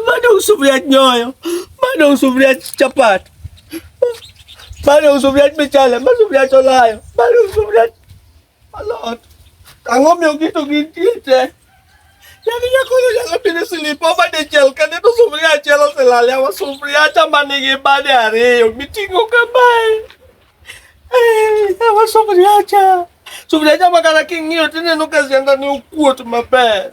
bado usufuria nyoyo, bado usufuria chapati, bado usufuria michele, bado usufuria cholayo, bado usufuria alot. Ang'o miyo gito gitiete? Yani nyakono nyalo pidho silipo bade chiel kane to sufuria achiel oselale awa sufuria cha ma nigi bade ariyo miting'o kamae. Eh, awa sufuria cha. Sufuria cha ma kata king'iyo tineno ka siandani okuot maber.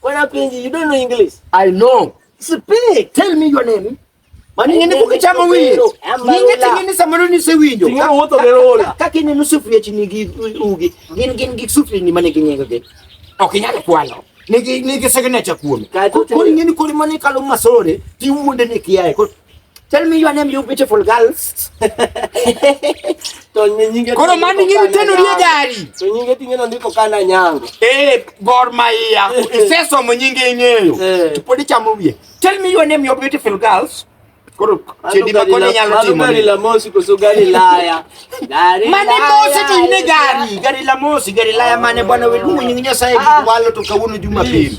What happened? You don't know English. I know. Speak. Tell me your name. maningene kukichama wino ninge tingene samano ni se winyo tinga woto de rola kaki ni nusufri chi ni gi ugi gin gin gi sufri ni mane kinyenga ke okinyaka kwalo nigi nigi signature kuome ko ni ni ko mane kalo masore ti wuonde ni kiae ko Tell me your name, you beautiful girls. Koro mani ngiri tenu rie gari. To nyinge tingeno ndiko kana nyango. Eh, Gor Mahia. Iseso mo nyinge ing'eyo. Eh. To podi chamo wiye. Tell me your name, you beautiful girls. Koro chedi ma koni nyalo timo. Gari la mosi koso gari laya. Gari mane mosi to ine gari. Gari la mosi, gari laya mane bwana weluongo nyinge Nyasaye ah. walo to kawuono Jumapili.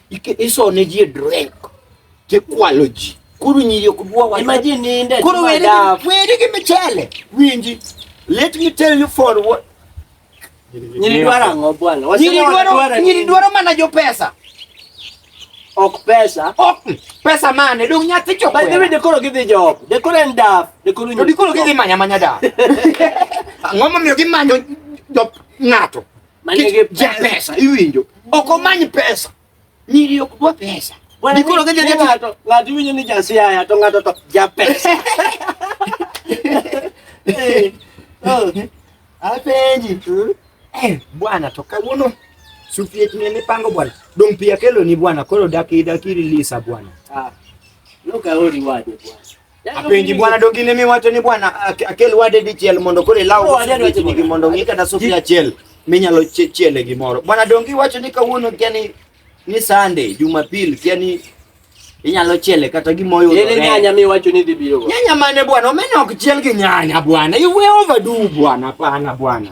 isone ji e drink tikwalo ji koro nyiri ok dwa wa imagine ninde koro weri weri gi michele winji let me tell you for what nyiri dwara ang'o bwana nyiri dwaro nyiri dwaro mana jo pesa ok pesa ok pesa mane dong nyathi choko by the way dekoro gidhi job dekoro en daf dekoro nyiri dekoro gidhi manya manya daf ang'o momiyo gimanyo jo ng'ato manigi pesa iwinjo, ok omany pesa, nyiri ok dwa pesa. Dikoro ka jadi ng'ato ng'ato iwinjo ni jasiaya to ng'ato to ja pesa. Eh, oh, apenji hmm? eh, bwana to kawuono sufiet ne mipango bwana dong pia kelo ni bwana koro daki daki release bwana ah, no kaori waje bwana Yaani Apenji bwana dogine mi wacho ni bwana akel wade dichiel mondo kore law nigi mondo ng'i kata sufi achiel minyalo chiele gimoro. Bwana dongi wacho ni kawuono kia ni ni Sunday, Jumapil kia ni inyalo chiele kata gimoyo. Yele nyanya mi wacho ni dhibiro. Nyanya mane bwana, omena ok chiel gi nyanya bwana. You way overdue bwana, pana bwana.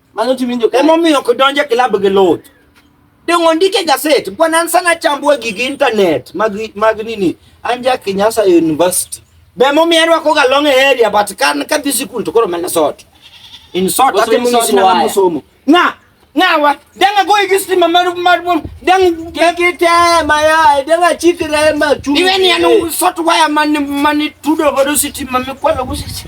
Mano timinjo ka. Emomiyo ok donje klab gi lot. Dongo ndike gaset, bwana an sana chambua gigi internet mag mag nini? Anja Kinyasa University. Be emomiyo arwako ga long area but kan ka dhi sikul to koro mana sot. In sot ate mo ngisi na mo somo. Na, nawa, danga go igi stima mar mar bom, dang kiki te maya, danga chikre ma chu. Iwe ni anu sot waya man man tudo go stima mi kwalo go sisi.